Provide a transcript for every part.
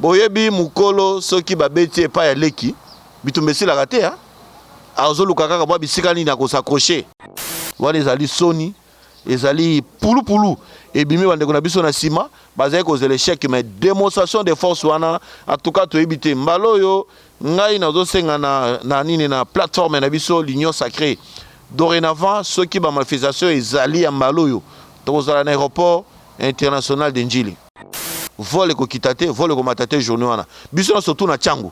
Boyebi mukolo soki ba beti ye epai ya leki bitumba esilaka te hein azo luka kaka mua bisika nini ako s'accroche. Wana ezali soni ezali pulupulu ebimi bandeko na biso na sima bazali kozela echec mais demonstration de force wana en tout cas toyebi te mbala oyo ngai nazo senga na na nini na plateforme na biso l'union sacree dorenavant soki ba manifestation ezali ya mbala oyo tokozala na aeroport international de ndjili. Vol ekokita te, vol ekomata te journée wana. Biso na surtout na Changu.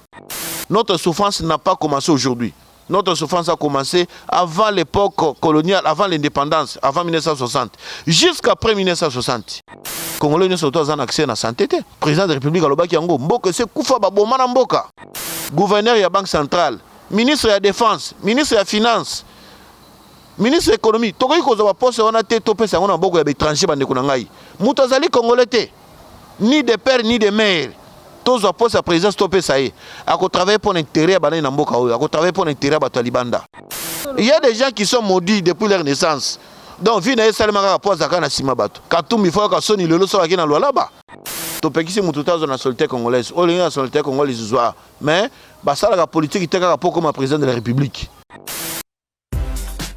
Notre souffrance n'a pas commencé aujourd'hui. Notre souffrance a commencé avant l'époque coloniale, avant l'indépendance, avant 1960, jusqu'après 1960. Congolais nyoso to azana accès na santé te. Président de la République alobaki yango, mboka se kufa ba boma na mboka. Gouverneur ya Banque centrale, ministre ya défense, ministre ya finance, Ministre ya economie, tokoki kozwa ba poste wana te to pesa yango na maboko ya ba etrangers ba ndeko na ngai. Mutu azali congolais te ni de père ni de mère. Tozwa poste ya presidence to pesa ye. Ako travailler pona interet ya ba nani na mboka oyo? Ako travailler pona interet ya batu ya libanda? Il ya des gens qui sont maudits depuis leur naissance. Donc vie na ye esalema kaka po azalaka na sima batu. Katumbi faut ayoka soni lelo soki ake na Lualaba. Topekisi mutu te azwa nationalite congolaise. Olingi nationalite congolaise zwaa mais basalaka politique te kaka po okoma president de la republique.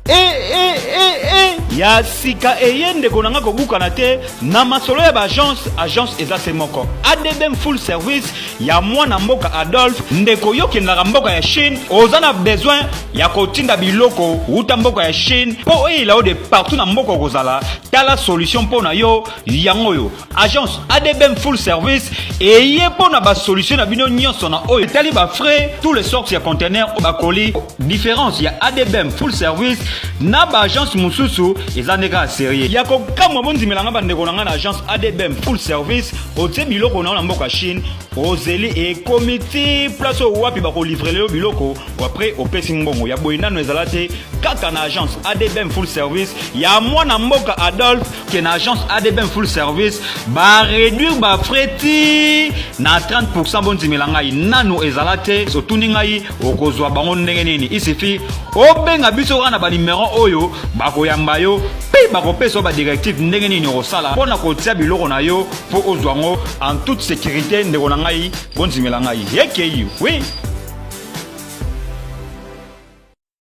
Eh, eh, eh, eh. ya sika eye ndeko na nga kobukana te na masolo ya baagence agence eza se moko adbm full service ya mwana mboka adolphe ndeko yo kendaka mboka ya chine oza na besoin ya kotinda biloko uta mboka ya chine mpo oyela yo de partout na mboka okozala tala solution mpo na yo yango oyo agence adbm full service eye mpo na basolution na bino nyonso na oyo etali bafrais tous les sortes ya contener bakoli différence ya adbm full service na baagence mosusu eza nde kaka serie ya kokamwa bondimelanga bandeko na ngai na agence adbm full service otie biloko na yo na mboka chine ozeli ekomi ti place oyo wapi bakolivrele yo biloko apres opesi mbongo ya boye nano ezala te kaka na agence adbm full service ya mwana mboka adolphe que na agence ADBM full service ba réduire ba frais ti na 30% bondimela ngai nanu ezala te otuni ngai okozwa bango ndenge nini isifi obenga biso kaka na banimero oyo bakoyamba yo mpe bakopesa yo badirective ndenge nini okosala mpo na kotia biloko na yo mpo ozwa yango en toute sécurité ndeko na ngai bondimela ngai ekeyi oui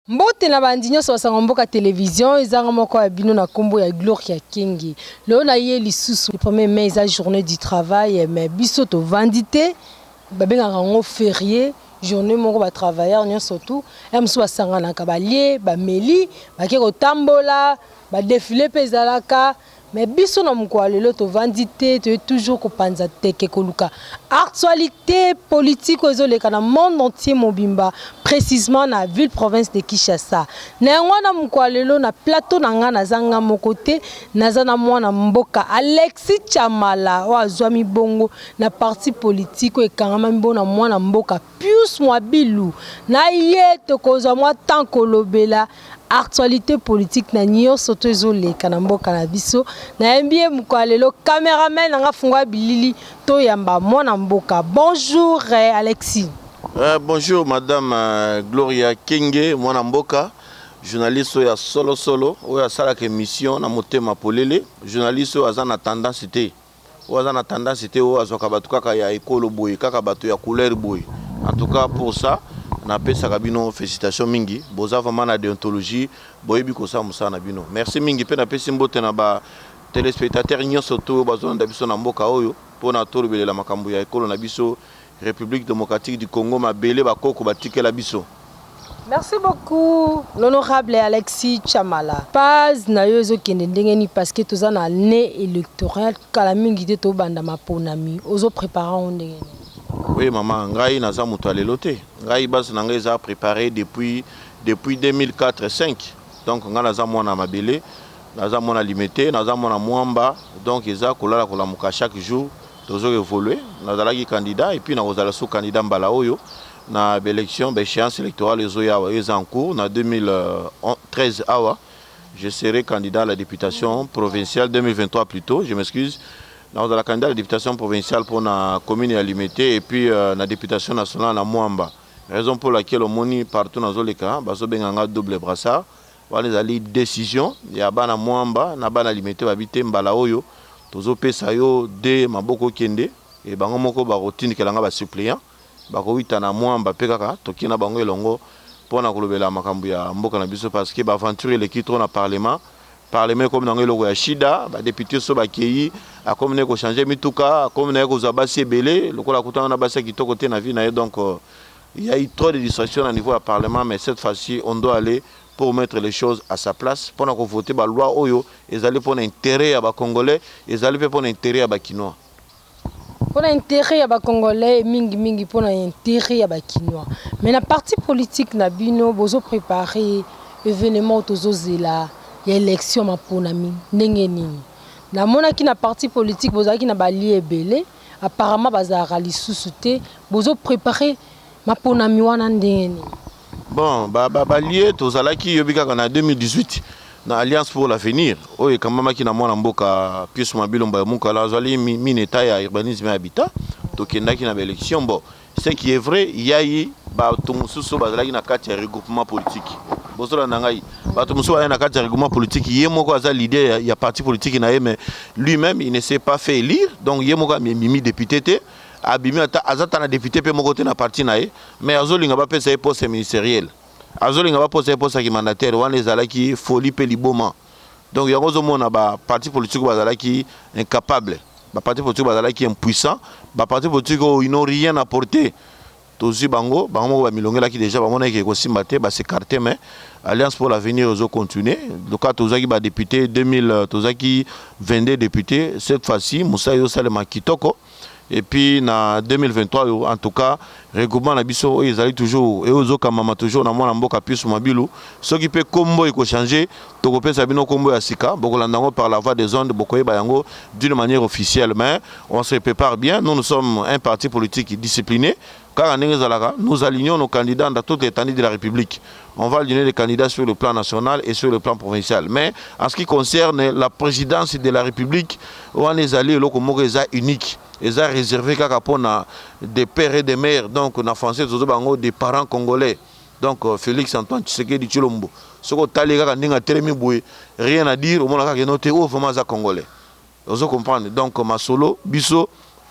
Mbote na bandi nionso ba sango mboka television eza nga moko ya bino na kombo ya gloria kenge lelo na ye lisusu le premier mai eza journee du travail mais biso to vandi te ba bengaka yango ferie journee moko ba travailleur nionso tout ya mosusu ba sanganaka ba lie ba meli ba ke ko tambola ba defile pe ezalaka Mais biso na mokolo ya lelo tovandi te toye toujours kopanza teke koluka actualite politique oyo ezoleka na monde entier mobimba precisement na ville province de Kinshasa na yango wana mokolo ya lelo na plateau na nga naza nga moko te naza na mwana mboka Alexis Tshamala oyo azwami bongo na parti politique oyo ekangamami bongo na mwana mboka Pius Mwabilu na ye tokozwa mwa temps kolobela actualite politique na nioso to ezo leka na mboka na biso nayembi ye mokolo ya lelo cameraman na nga fungua bilili toyamba mwana mboka bonjour Alexis. Eh bonjour madame Gloria Kenge mwana mboka journaliste oyo ya solo solo oyo asalaka emission na motema polele journaliste oyo aza na tendance te. Oyo aza na tendance te oyo azwaka batu kaka ya ekolo boye kaka batu ya couleur boye en tout cas pour ça na pesaka bino felicitations mingi boza vraiment na deontologie boyebi kosala musala na bino merci mingi pe na pesi mbote na ba telespectateurs nionso tout oyo bazo landa biso na mboka oyo pona tolobelela makambu ya ekolo na biso Republique democratique du Congo mabele ba koko ba tikela biso. Merci beaucoup l'honorable Alexis Chamala. Paz na yo ezo kende ndenge ni parce que toza na année électorale kala mingi te to banda maponami ozo préparer yango ndenge ni. Oui maman ngai naza moto ya lelo te ngai base na ngai eza préparer depuis depuis 2004 5 donc ngai naza mwana mabele naza mwana limete naza mwana mwamba donc eza kolala kolamuka chaque jour Tozo evoluer, nazalaki candidat et puis nakozala lisusu candidat mbala oyo na ba elections, ba echeances electorales ezoya awa, eza en cours na 2013 awa je serai candidat à la deputation provinciale, 2023 plutot, je m'excuse, nakozala candidat à la deputation provinciale mpo na commune ya Limete et puis na deputation nationale na Mwamba. Raison pour laquelle omoni partout nazoleka bazobenga nga double brassard. Wana ezali decision ya bana Muamba na bana Limete ba bi te mbala oyo tozo pesa yo de maboko kende et bango moko bako tindikela nga ba suppleants bako wita na Muamba pe kaka toke na bango elongo pona kolobela makambo ya mboka na biso parce que ba aventures eleki trop na parlement, parlement ekomi nango eloko ya shida ba deputes oyo ba keyi akomi naye ko changer mituka akomi naye kozua basi ebele lokola akutana na basi ya kitoko te na vie naye donc. Il ya eu trop de distraction na niveau ya parlement mais cette fois ci on doit aller pour mettre les choses à sa place pona ko voter ba lois oyo ezali pona interet ya ba congolais ezali pe pona interet ya ba kinois. Pona interet ya ba congolais et mingi mingi pona interet ya ba kinois mais na parti politique na bino bozo prepare evenement oyo tozo zela ya election maponami ndenge nini? na monaki na parti politique bozalaki na ba allies ebele Apparemment bazalaka lisusu te. Bozo preparer maponami wana ndenge nini? Bon, ba ba balie tozalaki yobi kaka na 2018 na Alliance pour l'avenir oyo ekambamaki na mwana mboka Pius Mabilomba ya Mukala azali mi- mine etat ya urbanisme et habitat tokendaki na ba election bo Ce qui est vrai ya ye bato mosusu bazalaki na kati ya regroupement politique bozolanda ngai bato mosusu bazali na kati ya regroupement politique ye moko aza leader ya, ya parti politique na ye mais lui même il ne s'est pas fait élire donc ye moko amemi député te abimi ata aza ata na député mpe moko te na parti na ye mais azolinga bapesa ye poste ministériel azolinga baposa ye poste ya kimandataire wana ezalaki folie mpe liboma Donc yango ozo mona ba parti politique bazalaki incapable, ba parti politique bazalaki impuissant, ba parti politique oyo ils n'ont rien apporte tozui bango, bango moko ba milongelaki dejà bamonaki ke ekosimba te ba s'ecarter mais alliance pour l'avenir ezo continuer lokola tozuaki ba deputes 2000 tozwaki 22 deputes cette fois ci mosala ezo salema kitoko. et puis na 2023 oyo en tout cas regroupement na biso oyo ezali toujours eyo ezokamama toujours na mwana mboka Pius Mabilu soki mpe kombo ekochange tokopesa bino kombo ya sika bokolanda yango par la voie des ondes bokoyeba yango d'une manière officielle mais on se prépare bien nous nous sommes un parti politique discipliné Kaka ndenge ezalaka, nous alignons nos candidats dans toute l'etendue de la Republique. On va aligner les candidats sur le plan national et sur le plan provincial. Mais en ce qui concerne la présidence de la République, wana ezali eloko moko eza unique, eza réservé kaka pona des pères et des mères. Donc na français tozo bango des parents congolais. Donc euh, Félix Antoine Tshisekedi Tshilombo. Soko tali kaka ndenge atelemi boye, rien à dire, omona kaka enote oh vraiment aza congolais. Ozo comprendre donc masolo biso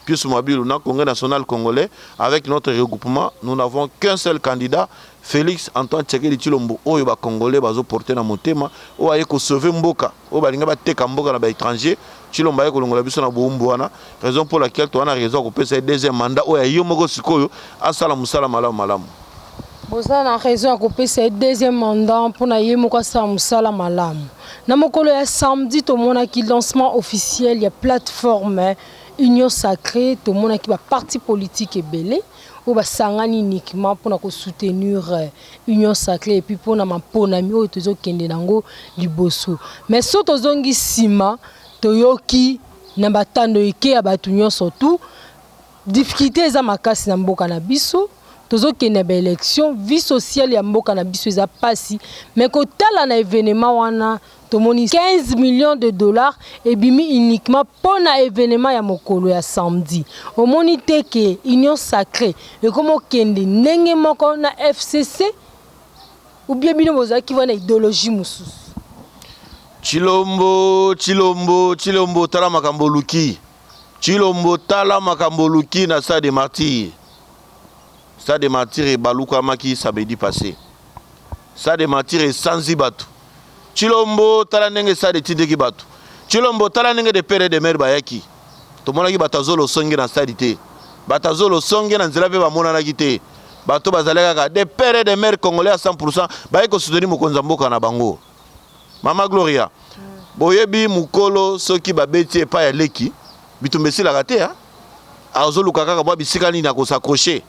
Pius Mabilu na Congrès national congolais avec notre regroupement nous n'avons qu'un seul candidat Felix Antoine Tshisekedi Tshilombo oyo ba congolais bazo porter na motema oyo aye ko sauver mboka oyo balingi bateka mboka na ba etrangers Tshilombo aye kolongola biso na bohumbu wana raison pour laquelle toza na raison ya kopesa ye deuxième mandat oyo ya ye moko sikoyo asala mosala malamu malamu. Boza na raison ya kopesa ye deuxième mandat pona ye moko asala musala malamu. Na mokolo ya samedi tomonaki lancement officiel ya plate forme union sacree tomonaki ba parti politique ebele oyo basangani uniquement pona ko soutenir union sacree epuis pona maponami oyo tozo kende nango liboso mais so tozongi sima toyoki na batando ike ya batu nionso tout difficulte eza makasi na mboka na biso. tozo kende ba election vie sociale ya mboka na biso eza pasi mais kotala na evenement wana tomoni 15 millions de dollars ebimi uniquement pona evenement ya mokolo ya samedi omoni te ke union sacre ekomo kende ndenge moko na FCC ou bien bino bozaki wana ideologie mususu Tshilombo, Tshilombo, Tshilombo tala makambo oluki. Tshilombo tala makambo oluki na stade de martyrs. Stade de martyrs ebalukamaki samedi passe. Stade de martyrs esanzi bato. Tshilombo tala ndenge stade etindiki bato. Tshilombo tala ndenge de pere de mere bayaki. Tomonaki bato ya zolo songe na stade te. Bato ya zolo songe na nzela mpe bamonanaki te. Bato bazali kaka de pere de mere congolais ya 100% baye kosoutenir mokonzi ya mboka na bango. Mama Gloria, boyebi mukolo soki babeti ye epai ya leki bitumba esilaka te hein? azoluka kaka mwa bisika nini akosakroche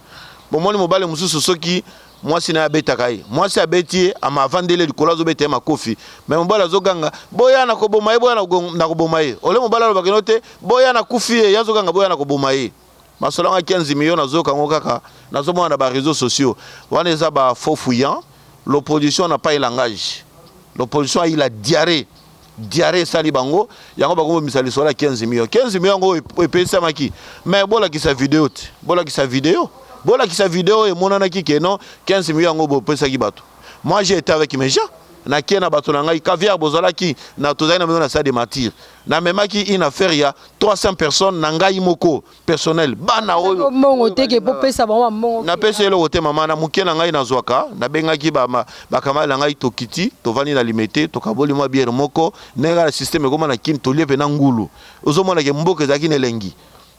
bomoni mobale mosusu soki mwasi na ye abetaka ye mwasi abeti ye ama avandele likolo azobeta ye makofi me mobale azoganga boya na koboma ye boya na koboma ye ole mobale alobakeno te boya na kufi ye ye azoganga boya na koboma ye Masolo yanga 15 millions nazoyoka yango kaka nazomona na ba reseaux sociaux. Wana eza ba faux fuyants. L'opposition n'a pas un langage. L'opposition a eu la diarrhee. Diarrhee esali bango yango bakobomisa lisolo ya 15 millions. 15 millions yango ep- epesamaki. Mais bolakisa video te. Bolakisa video. Bolakisa video oyo emonanaki que non 15 millions yango bopesaki bato. Moi j'ai été avec mes gens. Nakie na bato na ngai. Caviar bozalaki na tozali na bino na stade de martyrs. Na memaki une affaire ya 300 personnes na ngai moko personnel bana oyo mongo teke po pesa bango mongo na pesa eloko te mama na mukie na ngai na zwaka na bengaki ba ba kamala na ngai tokiti tovandi na limete tokaboli mwa bière moko ndenge na système ekoma na kin tolie pe na ngulu ozomona ke mboka ezalaki na elengi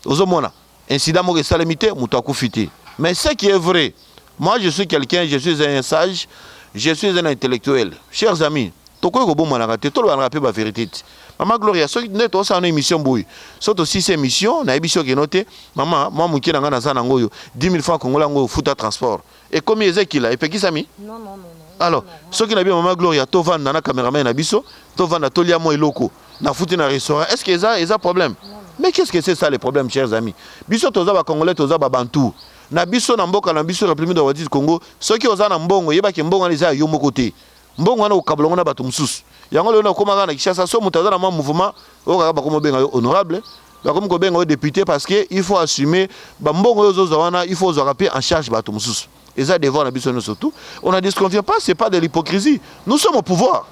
ozomona Incident moko esalemi te, moto akufi te. Mais ce qui est vrai, moi je suis quelqu'un, je suis un sage, je suis un intellectuel. Chers amis, tokoki kobomanaka te, tolobanaka pe ba verite te. Mama Gloria, soki nde tosala no emission boye, soki tosisi emission, nayebisi yo keno te, mama, mwa moke na ngai naza na yango oyo, 10 000 francs congolais yango oyo, futa transport. Ekomi Ezekila epekisami? Non non non non. Alors, soki na bien maman Gloria to vanda na cameraman na biso, to vanda to lia mo eloko, na futi na restaurant, est-ce que eza eza problème? Mais qu'est-ce que c'est ça les problèmes chers amis? Biso toza ba congolais toza ba bantou. Na biso na mboka na biso République Democratique du Congo, soki oza na mbongo yeba ke mbongo wana eza ya yo moko te. Mbongo wana okokabola yango na bato mosusu. Yango lelo nakoma kaka na Kinshasa, soki moto aza na mwa mouvement, oyo kaka bakomi kobenga yo honorable, bakomi kobenga yo depute parce que il faut assumer ba mbongo oyo ozozwa wana, il faut ozwaka mpe en charge bato mosusu. Eza devoir na biso nyonso tout. On ne disconvient pas, c'est pas de l'hypocrisie. Nous sommes au pouvoir.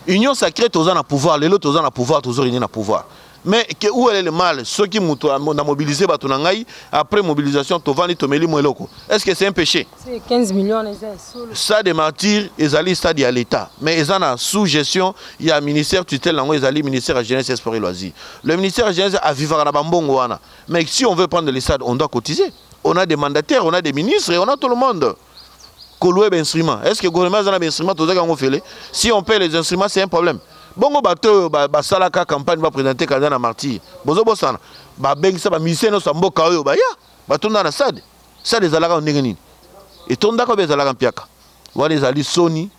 Union sacrée toza na pouvoir, lelo toza na pouvoir, tozo régner na pouvoir. Mais que où elle est le mal soki mutu na mobiliser batu na ngai après mobilisation tovandi tomeli mo eloko est ce que c'est un péché 15 millions eza solo stade martyr ezali stade ya l'état mais eza na sous gestion ya ministère tutelle nango ezali ministère ya jeunesse et sport et loisirs le ministère ya jeunesse a vivaka na bambongo wana mais si on veut prendre le stade on doit cotiser on a des mandataires on a des ministres et on a tout le monde ko louer ba instruments est ce que gouvernement aza na ba instruments tozaki yango fele si on paie les instruments c'est un problème bongo bato oyo basalaka campagne ba présenter candidat na martyr bozo bosana babengisa ba musicien nyonso ya mboka oyo baya batonda na stade stade ezalaka ndenge nini etondaka oyo ezalaka mpiaka wana ezali soni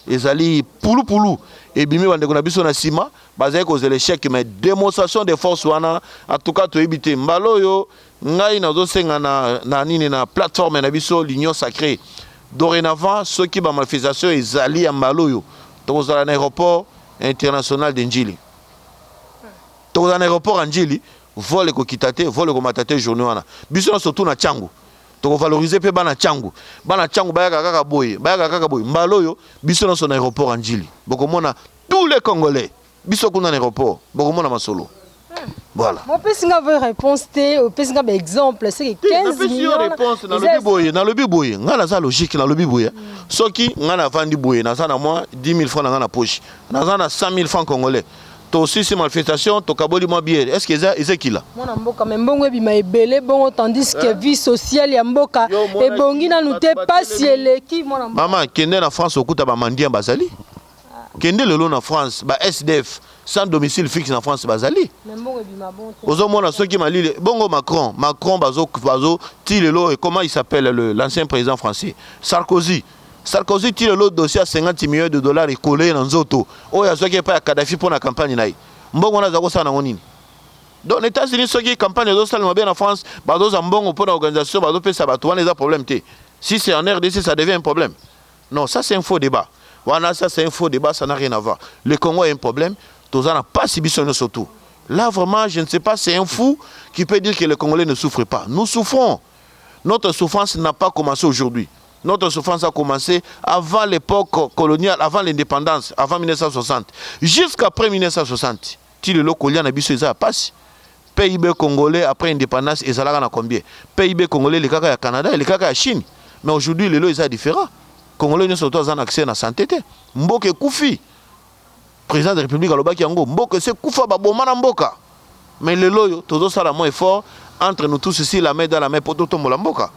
Ezali pulupulu ebimi ba ndeko na biso na sima bazali kozela echec mais demonstration de force wana en tout cas toyebi te mbala oyo ngai nazosenga na, na nini na plateforme na biso l'union sacrée dorénavant soki ba manifestation ezali ya mbala oyo tokozala na aéroport international de Ndjili tokozala na aéroport ya Ndjili vol ekokita te vol ekomata te journée wana biso nyonso tout na Tshangu Toko valoriser pe bana tshangu. Bana tshangu bayaka kaka boye, bayaka kaka boye. Mbala oyo biso nionso na aeroport ya Ndjili bokomona tous les congolais biso kuna na aeroport bokomona masolo. Voilà. Mo pesi nga vraie reponse te, opesi nga ba exemple seke 15 Napesi yo reponse na lobi boye, na lobi boye. Nga naza logique na lobi boye. Soki nga na vandi boye, naza na mwa 10000 francs na nga na poche. Naza na 100000 francs congolais. To sisi malfestation to kaboli mwa biere est-ce que eza eza kila mwana mboka mais mbongo ebima ebele bongo tandis que eh? vie sociale ya mboka ebongi nanu te pasi eleki mwana mboka maman kende na France okuta ba mendiants bazali kende lelo na France ba SDF sans domicile fixe na France bazali ozomona soki malili bongo Macron Macron bazo bazo ti lelo et comment il s'appelle l'ancien président français Sarkozy Sarkozy ti lelo dossier ya 50 millions de dollars e coller ye na nzoto oyo azwaki epai ya Kadhafi mpo na campagne na ye. Mbongo wana azali kosala nango nini? Donc na Etats Unis soki campagne ezo salema bien na France bazo zwa mbongo mpo na organisation bazo pesa batu wana eza problème te. Si c'est en rdc ça devient un problème? Non ça c'est un faux debat. Wana ça c'est un faux debat ça n'a rien à voir. Le Congo a un problème toza na pasi biso nionso tout. Là vraiment je ne sais pas c'est un fou qui peut dire que les Congolais ne souffrent pas. Nous souffrons. Notre souffrance n'a pas commence aujourd'hui. Notre souffrance a commence avant l'epoque coloniale, avant l'independance, avant 1960. Jusqu'à après 1960. Ti lelo kolia na biso eza ya pasi. PIB congolais après independance ezalaka na combien? PIB congolais elekaka ya Canada, elekaka ya Chine. Mais aujourd'hui lelo eza différent. Congolais nyoso to aza na accès na sante te. Mboka ekufi. President de republique alobaki yango mboka esi ekufa ba boma na mboka mais lelo oyo tozo sala mwa effort entre nous tous ici la main dans la main po to tombola mboka.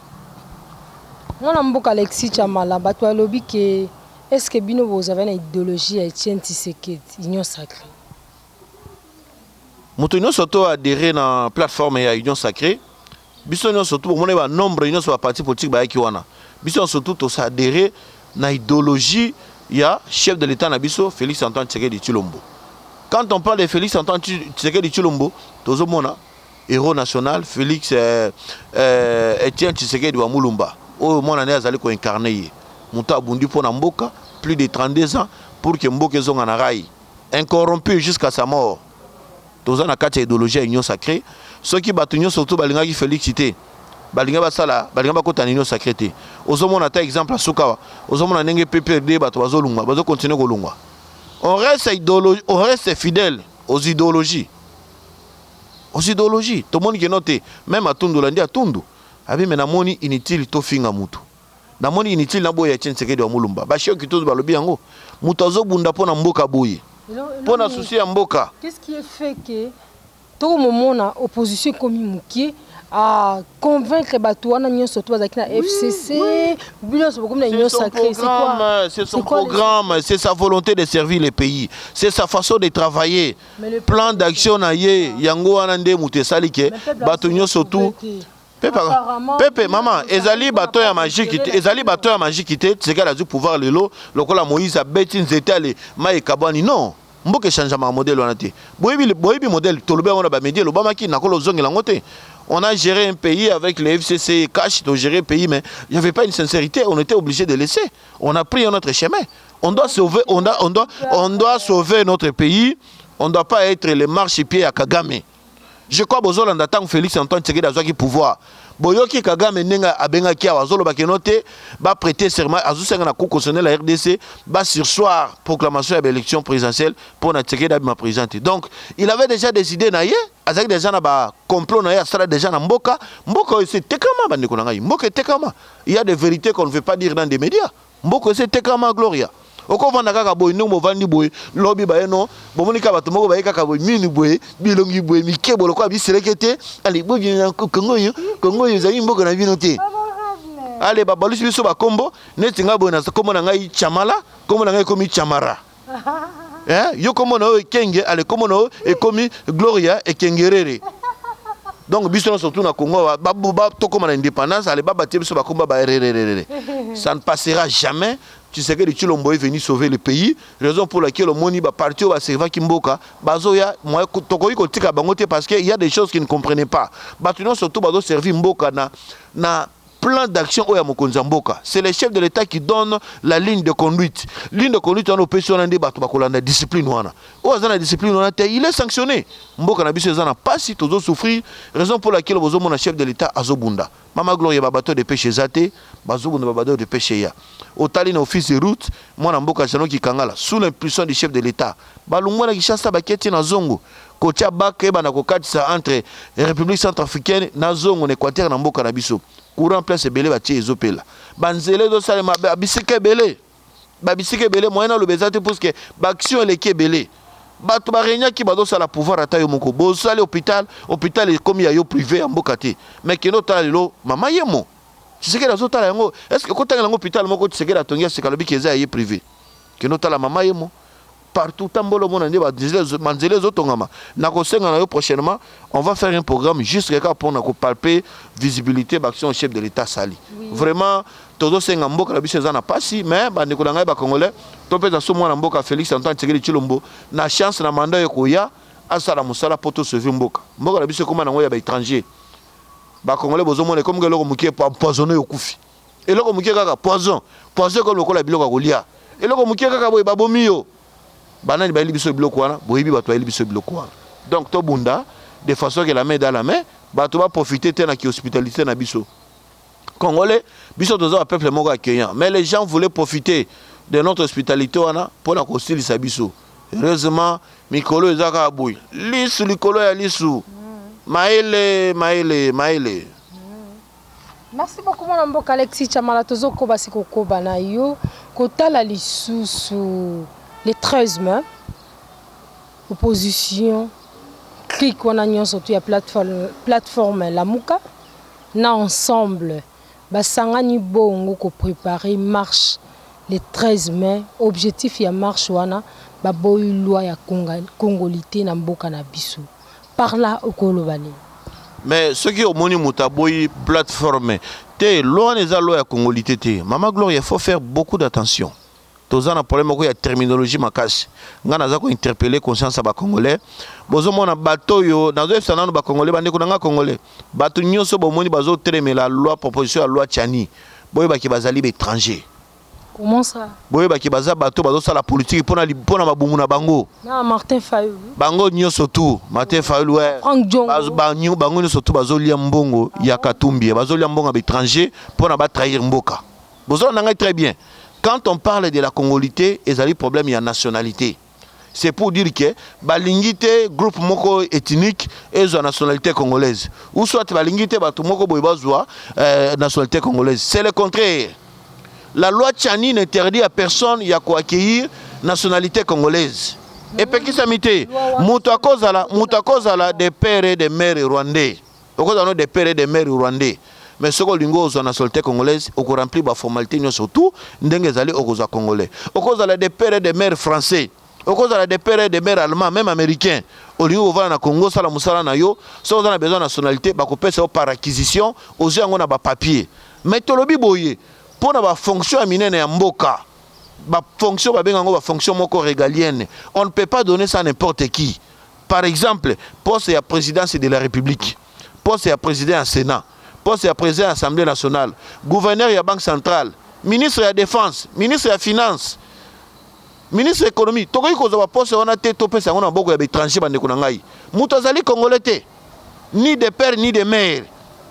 Mwana mboka Alexis Tshamala batu balobi ke est ce que bino bozave na ideologie ya Etienne Tshisekedi union sacree? Moto nionso to adherer na plateforme ya union sacree Biso nionso tout bomonaki ba nombre nionso ba parti politique bayaki wana biso nionso tout to s'adherer na ideologie ya chef de l'etat na biso Felix Antoine Tshisekedi Tshilombo quand on parle de Felix Antoine Tshisekedi Tshilombo tozo mona Hero national Felix euh, euh, Etienne Tshisekedi wa Mulumba oyo mwana ne azali ko incarner ye moto abundi mpo na mboka plus de 32 ans pour que mboka ezonga na rail incorrompu jusqu'à sa mort Toza na kati ya ideologie ya union sacree. Soki batu nionso surtout balingaki Felix te, balinga basala balinga bakota na union sacree te. Ozo mona ata exemple ya suka awa, ozo mona ndenge PPRD batu bazo lungwa, bazo continuer ko lungwa. On reste ideologie, on reste fidèle aux ideologies. Aux ideologies. Tomoni que non te, meme Atundu olandi Atundu? Abi mais namoni inutile tofinga mutu. Na moni inutile na boya Etienne Tshisekedi wa Mulumba. Ba choc tous ba lobi yango. Mutu azo bunda pona mboka boye. Pona souci ya mboka. Qu'est-ce qui est fait que toko momona opposition ekomi mukie a convaincre batu wana nionso to bazalaki na FCC bino nionso bokomi na union sacrée c'est quoi c'est son programme c'est sa volonté de servir le pays c'est sa façon de travailler plan d'action na ye yango wana nde mutu esali ke batu nionso tout pepe pepe mama ezali bato ya magiki te ezali bato ya magiki te tisekali azwi pouvoir lelo lokola moïse abeti nzete ale mai ekabwani non mboka echangeamaka modele wana te boyebi boyebi modele tolobi yango na bamedi elobamaki nakola ozongela yango te on a géré un pays avec le fcc et cash to gérer pays mais il n'y avait pas une sincérité on était obligé de laisser on a pris un autre chemin on doit sauver on doit, on doit, on doit sauver notre pays on ne doit pas être les marches pieds à Kagame Je crois bozolanda tango Felix Antoine Tshisekedi azwaki pouvoir. Boyoki Kagame ndenge abengaki awa azoloba que non te ba preter serment azosenga na cour constitutionnelle ya RDC ba sursoir proclamation ya ba elections presidentielles mpo na Tshisekedi abima president te. Donc il avait dejà des idees na ye, azalaki dejà na ba complots na ye asala dejà na mboka. Mboka oyo esi etekama bandeko na ngai, mboka etekama. Il ya des verites qu'on ne veut pas dire dans des medias. Mboka esi etekama gloria oko vanda kaka boye ndenge bovandi boye lobi baye no bomoni kaka bato moko baye kaka boye minu boye bilongi boye mike boye lokola biseleke te ale bobi na kongo oyo kongo oyo ezali mboka na bino te ale babalusi biso bakombo neti ngai boye na kombo na ngai chamala kombo na ngai ekomi chamara Hein? Yo kombo na yo ekenge, ale kombo na yo ekomi Gloria ekengerere. Donc biso na surtout na Congo ba ba tokoma na indépendance, ale ba batie biso ba komba ba rererere. Ça ne passera jamais. Tu sais que le Chilombo est venu sauver le pays, raison pour laquelle omoni ba parti ba serva kimboka, bazoya moya tokoki kotika bango te parce que il y a des choses qu'ils ne comprenaient pas. Bato non surtout bazo servir mboka na na plan d'action oyo ya mokonzi ya mboka c'est le chef de l'etat qui donne la ligne de conduite ligne de conduite wana opesi wana nde bato bakolanda discipline wana oyo aza na discipline wana te il est sanctionné mboka na biso eza na pasi tozo souffrir raison pour laquelle bozomona chef de l'etat azobunda mama gloria babato de pêche eza te bazobunda babato de pêche ya otali na office de route mwana mboka jano kikangala sous l'impulsion du chef de l'etat Balongua na Kinshasa bakie ti na zongo kotia bac ebanda kokatisa entre Republique centrafricaine na zongo na Equateur na mboka na biso courant place ebele batie ezo pela ba nzela ezo salema ba bisika ebele ba bisika ebele moyen naloba eza te puisque ba action eleki ebele bato ba regnaki bazo sala pouvoir ata yo moko bosali hopital hopital ekomi ya yo prive ya mboka te mais kende otala lelo mama yemo Tshisekedi azotala yango est ce que kotangela yango hopital moko Tshisekedi atongi ya sika alobi ke eza ya ye prive Kende otala mama yemo partout tambola omona nde ba nzela ezo tongama na kosenga na yo prochainement on va faire un programme juste kaka pona ko palper visibilité ba action chef de l'état sali oui. vraiment tozo senga mboka na biso eza na pasi mais ba ndeko na ngai ba congolais to peza so mwana mboka Felix Antoine Tshisekedi Tshilombo na chance na mandat yo koya asala musala po to sauver mboka mboka na biso ekoma nango ya ba étrangers ba congolais bozo mona ekomika eloko mukie empoisonner okufi Eloko mukie kaka poison poison ekomi lokola biloko ya kolia eloko mukie kaka boye babomi yo banani bayeli biso biloko wana boyebi bato bayeli biso biloko wana donc tobunda de façon que la main dans la main bato ba profiter te na ki hospitalite na biso congolais biso toza ba peuple moko accueillant mais les gens voulaient profiter de notre hospitalité wana pona kosilisa biso heureusement mikolo eza kaka boye lisu likolo ya lisu mayele mayele mayele Merci beaucoup mwana mboka Alexis Tshamala tozo koba se kokoba na yo kotala lisusu le 13 mai opposition clique wana nyonso tu ya plateforme, plateforme Lamuka na ensemble basangani bongo ko préparer marche le 13 mai objectif ya marche wana baboyi loi ya congolite na mboka na biso. parla oko loba nini? Mais soki omoni mutu aboyi plate forme te loi wana eza loi ya congolite te maman gloria il faut faire beaucoup d'attention toza na problème moko ya terminologie makasi nga naza ko interpelle conscience ya ba congolais bozo mona bato oyo nazo yebisa nanu ba congolais bandeko na nga congolais bato nyonso bomoni bazo telemela loi proposition ya loi chani boyebaki bazali ba étranger Comment ça? Boyeba ke baza bato bazo sala politique pona pona mabumu na bango. Na Martin Fayulu. Bango nyoso tout Martin Fayulu ouais. Frank Diongo. Bazo banyo bango nyoso tout bazo lia mbongo ah, ya Katumbi eh, bazo lia mbongo ya étranger pona ba trahir mboka. Bozo na ngai très bien. Quand on parle de la congolité ezali problème ya nationalité. C'est pour dire que balingi te groupe moko ethnique ezwa nationalité congolaise ou soit balingi te bato moko boye bazwa euh, nationalité congolaise. C'est le contraire. La loi Tchani n'interdit à personne ya ko accueillir nationalité congolaise. Epekisami te. Moto akozala moto akozala de père et de mère rwandais. Okozala no de père et de mère rwandais mais soki olingi ozua nationalite congolaise oko remplir ba formalites nionso tout ndenge ezali okozua congolais. Okozala de père et de mère français, okozala de père et de mère allemand meme americain olingi kovanda na congo sala musala na yo soki oza na besoin ya nationalite bakopesa yo par acquisition ozui yango na ba papiers mais tolobi boye pona ba fonction ya minene ya mboka ba fonction babenga yango ba fonction moko regalienne on ne peut pas donner ça n'importe qui. par exemple poste ya presidence de la republique poste ya president ya senat poste ya president ya assemblée nationale gouverneur ya banque centrale ministre ya défense ministre ya finance ministre ya économie tokoki kozwa baposte wana te topesa yango na maboko ya baétranger bandeko na ngai moto azali congolais te ni de père ni de mère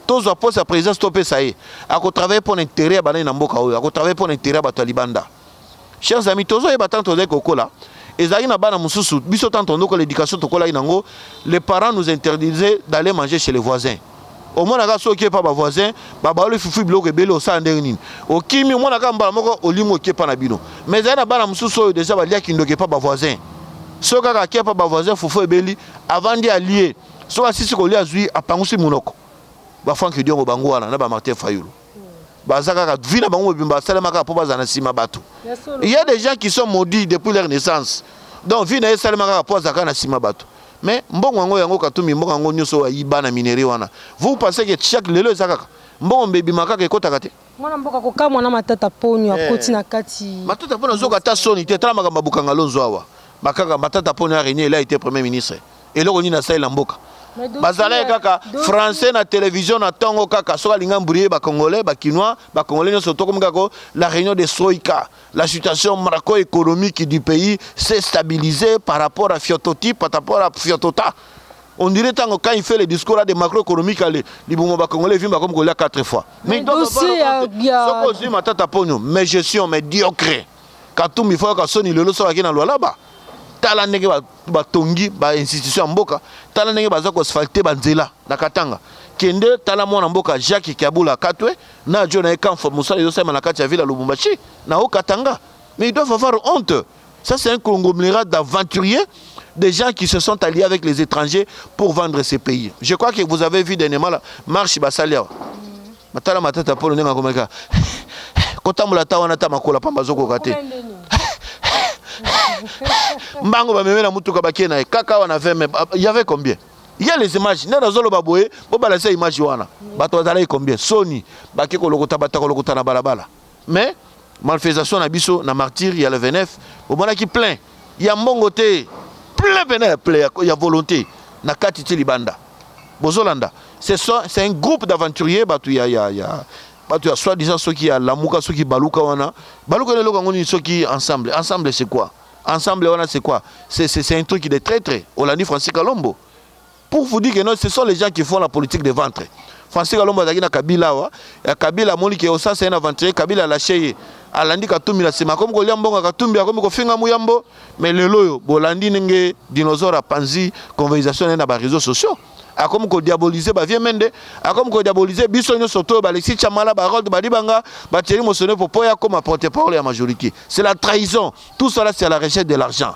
tozwa poste ya présidence topesa ye akotravaille mpo na intérêt ya banani na mboka oyo akotravaille mpo na intérêt ya bato ya libanda Chers amis, tozo yeba tant tozali kokola, ezalaki na bana mususu biso tant tondokola education tokolaki nango, les parents nous interdisaient d'aller manger chez les voisins. Omonaka soki okie pa ba voisins, babaloli fufu biloko ebele osala ndenge nini? Okimi omonaka mbala moko olingi okie pa na bino. Mais ezali na bana mususu oyo dejà balia kindoki epa ba voisins. Soki kaka akie pa ba voisins fufu ebeli, avandi alie. Soki asisi kolia azui apangusi munoko. Ba Franck Diongo bango wana na ba Martin Fayulu. baza kaka vie na bango mobimba basalema kaka mpo bazala na nsima bato il y a des gens qui sont maudits depuis leur naissance donc vie na ye esalema kaka mpo azala kaka na nsima bato mais mbongo yango yango katumbi mbongo yango nyonso oyo ayiba na minerie wana vous pensez que chaque lelo eza kaka mbongo mbe ebimaka kaka ekotaka te mwana mboka kokamwa na matata ponio eh. akoti na kati matata mpo nazoka ata soni te tala makambo ya bokanga lonzo awa bakaka matata mpo na arenie ela ete premier ministre eloko nini asali na mboka bazalaki kaka français na télévision na tongo kaka soki alinga mbrie ba congolais ba kinois ba congolais nyonso tokomi kako la réunion de soika la situation marco économique du pays s'est stabilisé par rapport à fiototi par rapport à fiotota on dirait tango quand il fait le discours là de macroéconomique ale libumo ba congolais vimba comme kolia quatre fois mais donc soko ozwi matata ponyo mais gestion mais diocre Katumbi faut yoka soni lelo soki ake na Lualaba tala ndenge batongi ba, ba institution ya mboka tala ndenge baza ko asphalte ba nzela na Katanga kende tala mwana mboka Jacques Kiabula Katwe na jo na ye Kamfo musala ezo salema na kati ya ville ya Lubumbashi na haut Katanga mais ils doivent avoir honte ça c'est un conglomérat d'aventuriers des gens qui se sont alliés avec les étrangers pour vendre ces pays je crois que vous avez vu dernièrement la marche basali awa Tala matata ya Polo ndenge akomaki kaka kotambola ata wana ata makola pamba azokoka te mbango bameme na motuka bakie na ye kaka awa na 20 mai y avait combien ya les images nde nazoloba boye bobalasa image wana bato bazalaki combien soni bake kolokota bato ya kolokota na balabala Mais malfaisation na biso na martyrs ya le 29 bomonaki plein ya mbongo te plein pena ya plein ya volonte na kati ti libanda bozolanda c'est un groupe d'aventuriers batu ya ya ya bato ya soit disant soki ya lamuka soki baluka wana baluka na eloko yango nini soki ensemble ensemble c'est quoi ensemble wana c'est quoi c'est un truc de traitre olandi francis kalombo Pour vous dire que non, ce sont les gens qui font la politique de ventre. Français Kalombo azalaki na Kabila awa, ya Kabila amoni ke osasa ye na aventurier, Kabila alashe ye, alandi Katumbi na nsima, akomi kolia mbongo ya Katumbi, akomi kofinga Muyambo, mais lelo oyo bolandi ndenge dinosaure apanzi conversation na ye na ba réseaux sociaux akomi kodiabolize bavie mende akomi kodiabolize biso nyonso toyo balexi chamala barold badibanga batieri mosone popo ye akoma porte parole ya majorité c'est la trahison tout cela c'est à la recherche de l'argent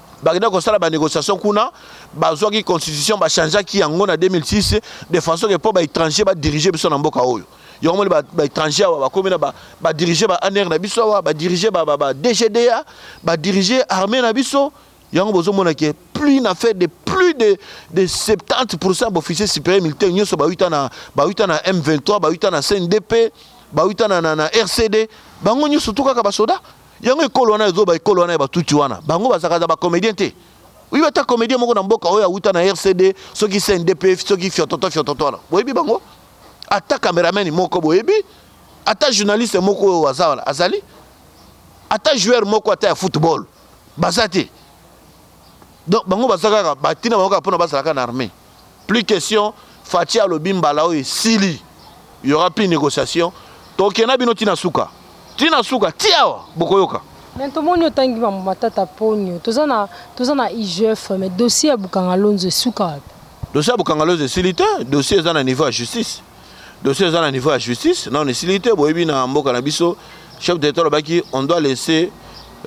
bakenda kosala ba négociation kuna bazwaki constitution ba changeaki yango na 2006 de façon que mpo ba étranger ba diriger biso na mboka oyo yango moni ba étranger awa bakomi na ba diriger ba anr na biso awa ba diriger ba dgda ba diriger armée na biso yango bozomona ke plus na fait de plus de, de 70 pourcent baofficier supérieur militaire nyonso bawita na, bawita na m23 bawita na cndp bawita na, na, na rcd bango nyonso tu kaka basoda Yango ekolo wana ya zoba, ekolo wana ya batutsi wana, bango bazalaka za ba comedien te? Oui, ata comedien moko na mboka oyo awuta na RCD, soki CNDP, soki fiototo fiototo wana, boyebi bango? Ata cameraman moko boyebi? Ata journaliste moko oyo aza wana azali? Ata joueur moko ata ya football baza te? Donc bango baza kaka batina bango kaka mpona bazala kaka na armee. plus question Fatshi alobi mbala oyo esili il y aura plus négociation tokenda bino tina suka tina suka ti awa bokoyoka Mais tomoni otangi mambo matata ponyo toza na toza na IGF mais dossier ya Bukanga Lonzo esuka wapi dossier ya Bukanga Lonzo esili te dossier eza na niveau ya justice dossier eza na niveau ya justice nano esili te boyebi na mboka na biso chef d'état alobaki on doit laisser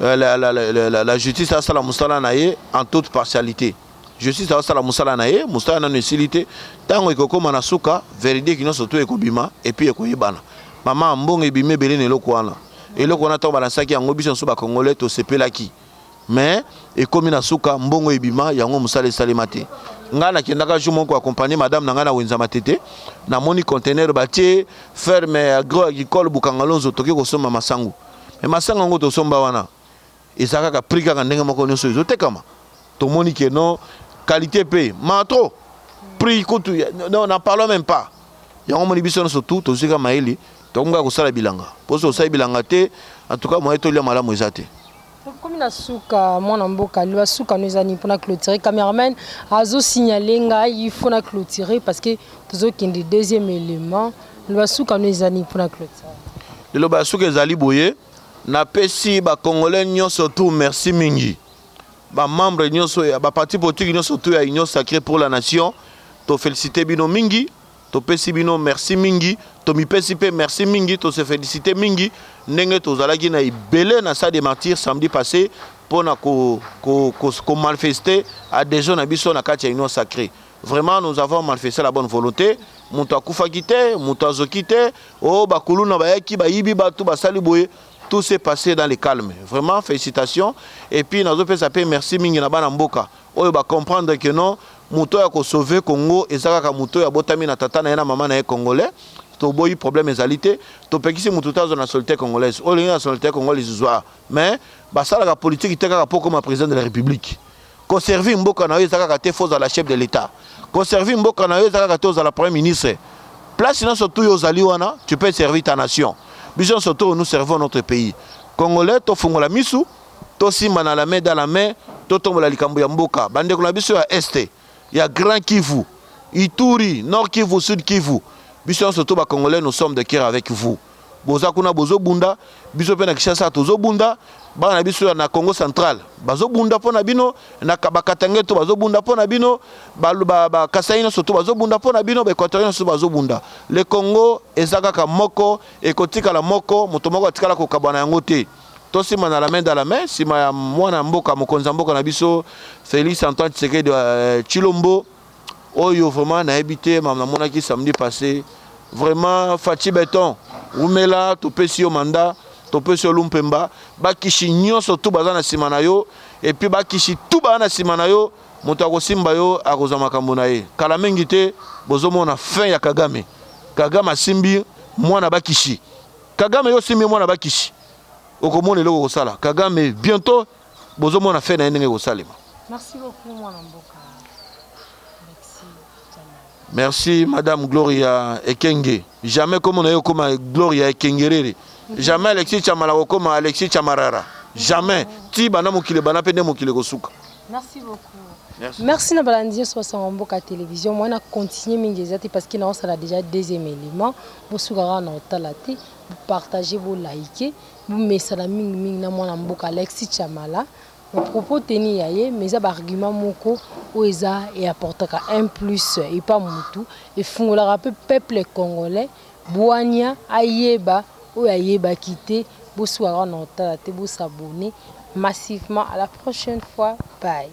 euh, la, la, la, la, la justice asala mosala na ye en toute partialité Justice asala musala na ye, musala nanu esili te. Tango ekokoma na suka, veridique nionso tout ekobima et puis ekoyebana. Maman, mbongo ebimi ebele na eloko wana. Eloko wana tango ba lansaki yango, biso nioso ba congolais tosepelaki. Mais, ekomi na suka, mbongo ebima, yango musala esalema te. Ngai nakendaka jour moko ko accompagner madame na ngai na Wenza Matete, namoni conteneur batie ferme agro-agricole Bukangalonzo, toke kosomba masangu. Mais masangu yango tosomba wana, Eza kaka prix kaka ndenge moko nioso ezo tekama tomoni que non qualite pe ma trop prix kutu non n'en parlons même pas yango omoni biso nioso tout tozwi kaka mayele tokomi kaka kosala bilanga po soki osali bilanga te en tout cas moyen tolia malamu eza te. Tokomi na suka mwana mboka loba suka no eza nini pona clotire cameraman azo signaler ngai il faut na clotire parce que tozo kende deuxième element loba suka no eza nini pona clotire. Liloba ya suka ezali boye. Na pesi ba congolais nioso tout merci mingi ba membres nioso ya ba parti politique nioso tout ya union sacre pour la nation to felicite bino mingi to pesi bino merci mingi to mipesi pe merci mingi to se felicite mingi ndenge to zalaki na ebele na stade de martyrs samedi passe pona ko ko ko malfeste adhesion na biso na kati ya union sacre Vraiment nous avons manifeste la bonne volonte mutu akufaki te mutu azoki te o oh, bakuluna bayaki bayibi batu basali boye tout s'est passé dans le calme. Vraiment, félicitations. Et puis, nazo pesa pe merci mingi na bana mboka. Oyo ba comprendre que non, moto ya ko sauver Congo ezaka ka moto ya botami na tata na ye na mama na ye congolais. toboyi problème ezali te topekisi motu te azwa nationalité congolaise oyo olingi nationalité congolaise zwa mais basalaka politiki te kaka mpo okoma président de la république Ko servir mboka na yo eza kaka te faut ozala chef de l'etat. Ko servir mboka na yo eza kaka te ozala premier ministre. Place nionso tout yo ozali wana tu peux servir ta nation. Biso nionso tout nous servons notre pays. Congolais to fungola misu, to simbana la main dans la main, to tombola likambo ya mboka. Ba ndeko na biso ya Est, ya Grand Kivu, Ituri, Nord Kivu, Sud Kivu, biso nionso tout ba Congolais nous sommes de coeur avec vous. Boza kuna bozo bunda, biso pe na Kinshasa tozo bunda, bana na biso ya na Kongo central bazo bunda po na bino, na ba Katangais tout bazo bunda po na bino, ba ba Kasai nionso tout bazo bunda po na bino, ba Equatoriens nionso bazo bunda. Le Kongo eza kaka moko, ekotikala moko, moto moko atikala kokabwana yango te. Tosimbana la main dans la main, sima ya mwana mboka, mokonzi ya mboka na biso Felix Antoine Tshisekedi Tshilombo. Oyo vraiment nayebi te mam namonaki samedi passe vraiment Fatshi beton wumela topesi yo mandat topesi yo lumpemba bakishi nyonso tu baza na nsima na yo epuis bakishi tu baza na nsima na yo moto akosimba yo akozwa makambo na ye kala mingi te bozomona fin ya kagame kagame asimbi mwana bakishi kagame yo osimbi mwana bakishi okomona eloko okosala kagame bientôt Bozo mona fin na ye ndenge ekosalema. Merci beaucoup mwana mboka. Merci Madame Gloria Ekenge. Jamais comme on a eu comme Gloria Ekengerere. Mhm. Jamais Alexis Chamala comme Alexis Chamarara. Jamais. Mhm. Ti bana mokile bana pende mokile kosuka. Merci beaucoup. Merci. Merci na balandi nyonso basanga mboka télévision moi na continuer mingi eza te parce que naosala déjà deuxième élément bosukaka na otala te bopartage boliker Bomesana mingi mingi na mwana mboka Alexis Tshamala na propos tenus ya ye mais eza ba arguments moko oyo eza e apportaka un plus epa mutu efungolaka pe peuple congolais bwanya ayeba oyo ayebaki te bosuka kaka na kotala te bo s'abonner massivement à la prochaine fois bye.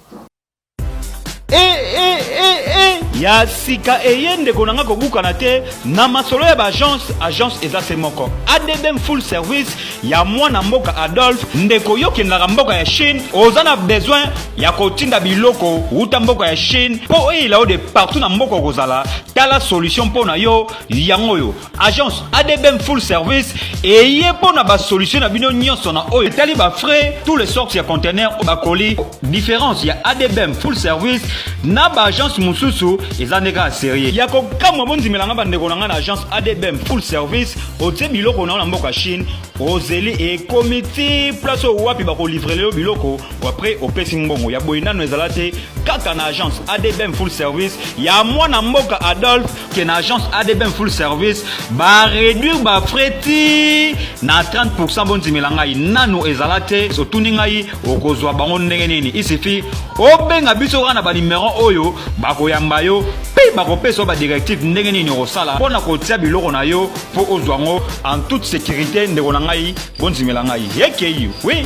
Eh, eh, eh, eh. ya sika eye ndeko na nga kobukana te na masolo ya baagence agence eza se moko adm full service ya mwana mboka adolphe ndeko yo kendaka mboka ya chine oza na besoin ya kotinda biloko uta mboka ya chine mpo oyela yo de partout na mboka okozala tala solution mpo na yo yango oyo agence adbm full service eye mpo na basolution na bino nyonso na oyo etali bafrais tous les sortes ya contener bakoli différence ya adbm full service na baagence mosusu eza nde kaka serie ya kokamwa bondimela nga bandeko na ngai na agence adbm full service otie biloko na yo na mboka chine ozeli ekomi ti place oyo wapi bakolivrele yo biloko apres opesi mbongo ya boye nano ezala te kaka na agence adbm full service ya mwana mboka adolphe que na agence adbm full service baréduire bafrais ti na 30 pourcent bondimela ngai nano ezala te otuni ngai okozwa bango ndenge nini isifi obenga biso kaka na banimero oyo bakoyamba yo mpe bakopesa yo badirective ndenge nini okosala mpo na kotia biloko na yo mpo ozwa yango en toute sécurité ndeko na ngai bondimela ngai ekei wi